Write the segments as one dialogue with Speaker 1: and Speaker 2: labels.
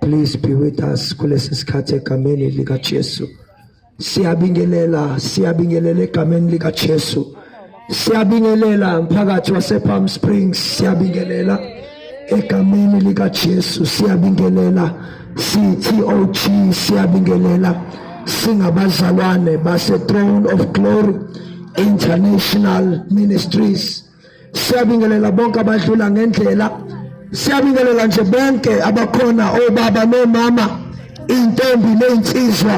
Speaker 1: Please be with us kulesi sikhathi egameni likaJesu. Siyabingelela, siyabingelela egameni likaJesu. Siyabingelela mphakathi wasePalm Springs, siyabingelela egameni likaJesu, siyabingelela CTOG, siyabingelela singabazalwane base Throne of Glory International Ministries. siyabingelela bonke abadlula ngendlela siyabingelela nje bonke abakhona obaba nomama intombi nezinsizwa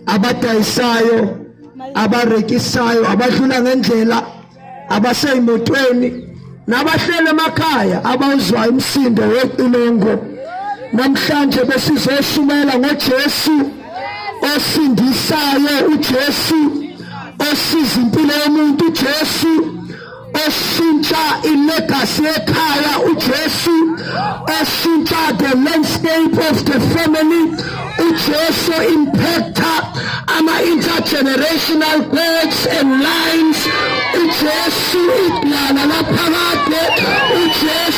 Speaker 1: abadayisayo abarekisayo abadlula ngendlela abaseyimotweni nabahlele emakhaya abawuzwa umsindo weqilongo namhlanje besizoshumayela ngoJesu osindisayo uJesu osiza impilo yomuntu uJesu oshintsha ilegacy ekhaya uJesu oshintsha the landscape of the family uJesu impacta ama intergenerational codes and lines uJesu idlala laphakade uJesu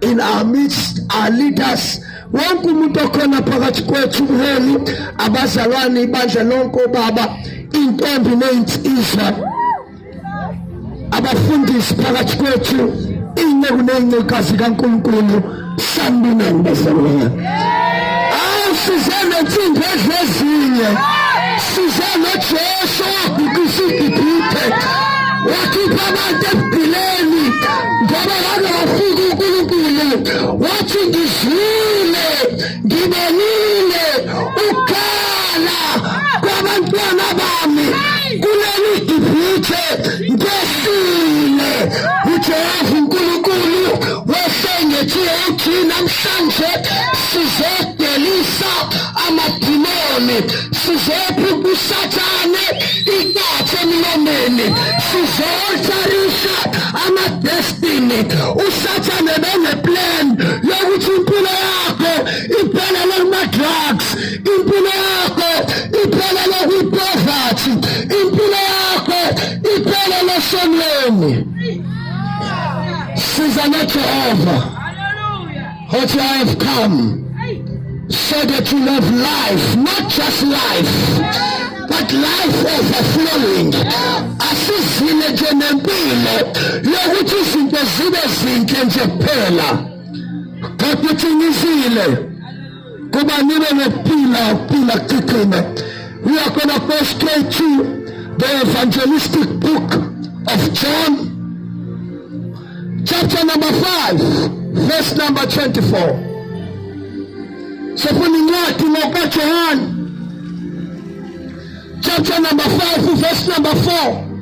Speaker 1: in our midst our leaders wonke umuntu okhona phakathi kwethu umholi abazalwane ibandla lonke obaba intombi nezinsizwa abafundisi phakathi kwethu inceku nezincekazi kaNkulunkulu sambinani bazalwane awusizele insimbi edlezinye sizele Jesu wabhikisa igibhithe wakhipha abantu ebugileni ngoba Ake wafika uNkulunkulu wathi ngizwile, ngibonile ukukhala kwabantwana bami kuleli dibhithe ngesile uJehova uNkulunkulu wasengethiye uthi namhlanje sizodelisa amadimoni sizophi kusathane ikathe emlomeni sizotsharisha amadestiny usathane beneplan yokuthi impilo yakho iphelele kuma-drugs impilo yakho iphelele kwipoverty impilo yakho iphelele sonweni siza nejehova What I have come so that you love life, not just life, but life overflowing. Asizile nje nempilo yokuthi izinto zibe zinhle nje kuphela, kodwa uthi ngizile kuba nibe nokuphila ukuphila kuqine. We are gonna go straight to the evangelistic book of John chapter number 5 verse number 24 sifuna incwadi ngokaJohane chapter number 5 verse number 4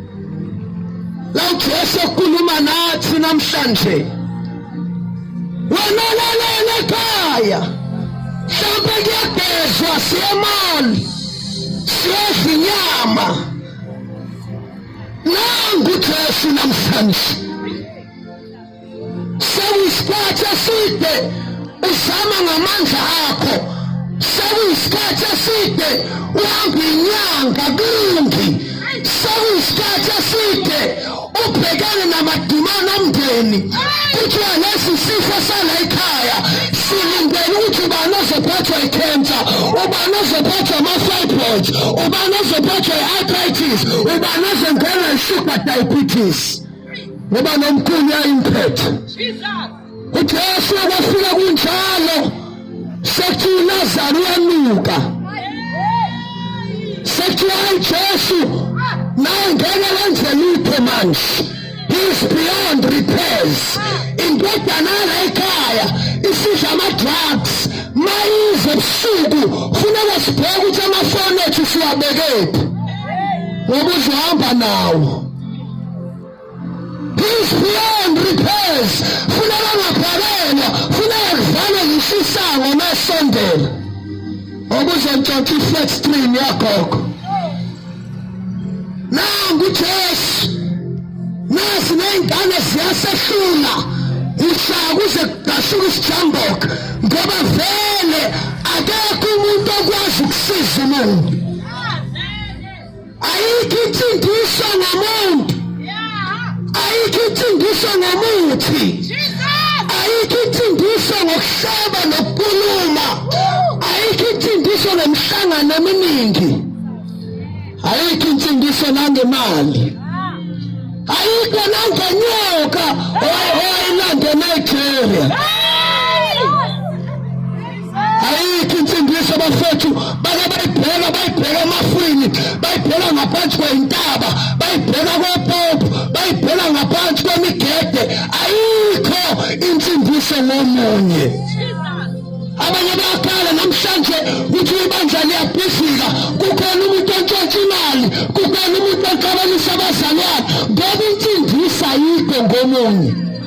Speaker 1: la uJesu ekhuluma nathi namhlanje wena lalela ekhaya mhlawumbe kuyagezwa siyemali siyezinyama nangu Jesu namhlanje sekuyisikhathi eside uzama ngamandla akho sekuyisikhathi eside uhamba inyanga kungi sekuyisikhathi eside ubhekene namadimana omndeni kuthiwa lesi sifo sala ekhaya silindele ukuthi ubani ozophathwa ikhensa ubani ozophathwa ama-fibroid ubani ozophathwa diabetes ubani ozongena isuper diabetes ngoba nomkhulu yayimphethe ujesu kwafika kunjalo sekthi ulazaro uyanuka sekthi hayi jesu nawe ngeke wenze lutho manje is beyond repairs indodana layikhaya isidla ama-drugs mayize busuku funeka sibheke ukuthi amafoni ethu siwabekephi ngoba uzohamba nawo is beyond repairs funeka ngabhakelwa funeka kuvalwe yisisango masondela Ngokuzentshontsha i-flat screen yagogo. Nangu Jesu. Nasi nezingane ziyasehlula. Ushaya kuze kudashuka isijamboka ngoba vele akekho umuntu okwazi ukusiza umuntu. ayikho insindiso ngamuntu ayikho insindiso ngamuthi ayikho insindiso ngokuhleba nokukhuluma ayikho insindiso nemihlangano eminingi ayikho insindiso nangemali ayikho nangonyoka owayelandela ijeria ayikho insindiso bafethu bake bayibheka bayibheka emafwini bayibheka ngaphansi kweyintaba bayibheka kopopo bayibheka ngaphansi kwemigede ayikho insindiso ngomunye abanye bayakhala namhlanje ukuthi ibandla liyabhizika kukhona umuntu ontshontsha imali kukhona umuntu oxabanisa abazalwane ngoba insindiso ayikho ngomunye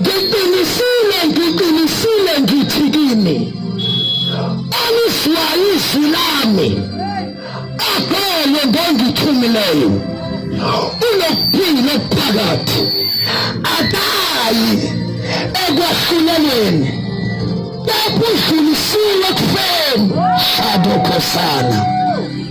Speaker 1: Ngiqinisile, ngiqinisile ngithi kini, alizwayo izwi lami akholwe ngongithumileyo unokuphila okuphakathi akayi ekwahlulelweni kepha udlulisiwe kufeni shadokhosana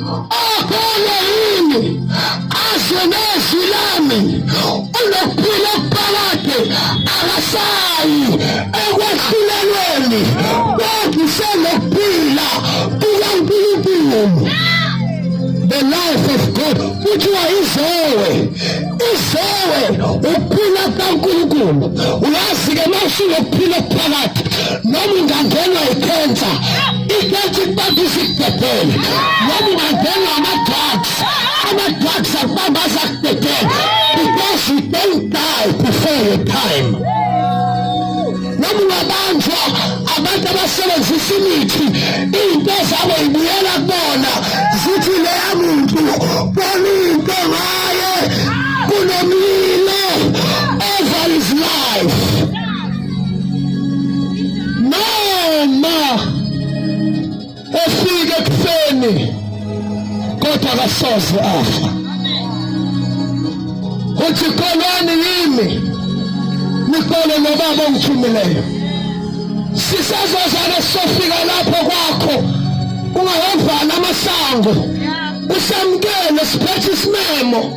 Speaker 1: Akholwe yini azwe nezwi lami unokuphila okuphakade akasayi ekwehlulelweni kodwa usenokuphila kukaNkulunkulu the life of God kuthiwa izowe izowe ukuphila kukaNkulunkulu uyazi-ke mawusunokuphila okuphakathi noma ungangenwa ikhensa ibethi kubamba izikudedele noma ungangenwa ama-drugs ama-drugs akubamba azakudedele because you don't die before your time noma ungabanjwa abantu abasebenzisa imithi iy'nto zabo ibuyela kubona zithi leya muntu bona into ngaye kunomlilo over his life noma efike ekuseni kodwa akasoze afa uthi kholwani yimi nikole nobaba ongithumileyo sisazozana sofika lapho kwakho ungawavali amasango usamkele siphethe isimemo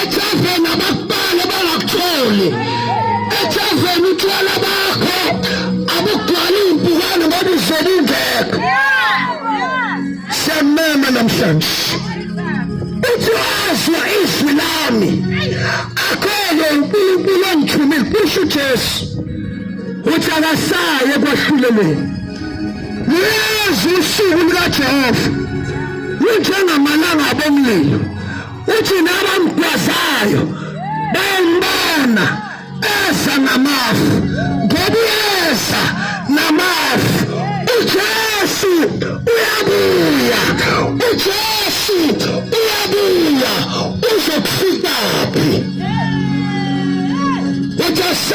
Speaker 1: Ejazeni abakubale bangakutholi. Ejazeni utshwala bakho abugcwali impukane ngoba izele ingekho. Siyamema namhlanje. Uthi wazwa izwi lami. Akhele uNkulunkulu ongithumile kusho uJesu. Uthi akasaye kwahlulelweni. Lezi usuku lukaJehova. Lunjengamalanga abomlilo. uthi nabamgwazayo bembona eza namafu ngoba uyeza namafu ujesu uyabuya ujesu uyabuya uzokufikaphi ujesu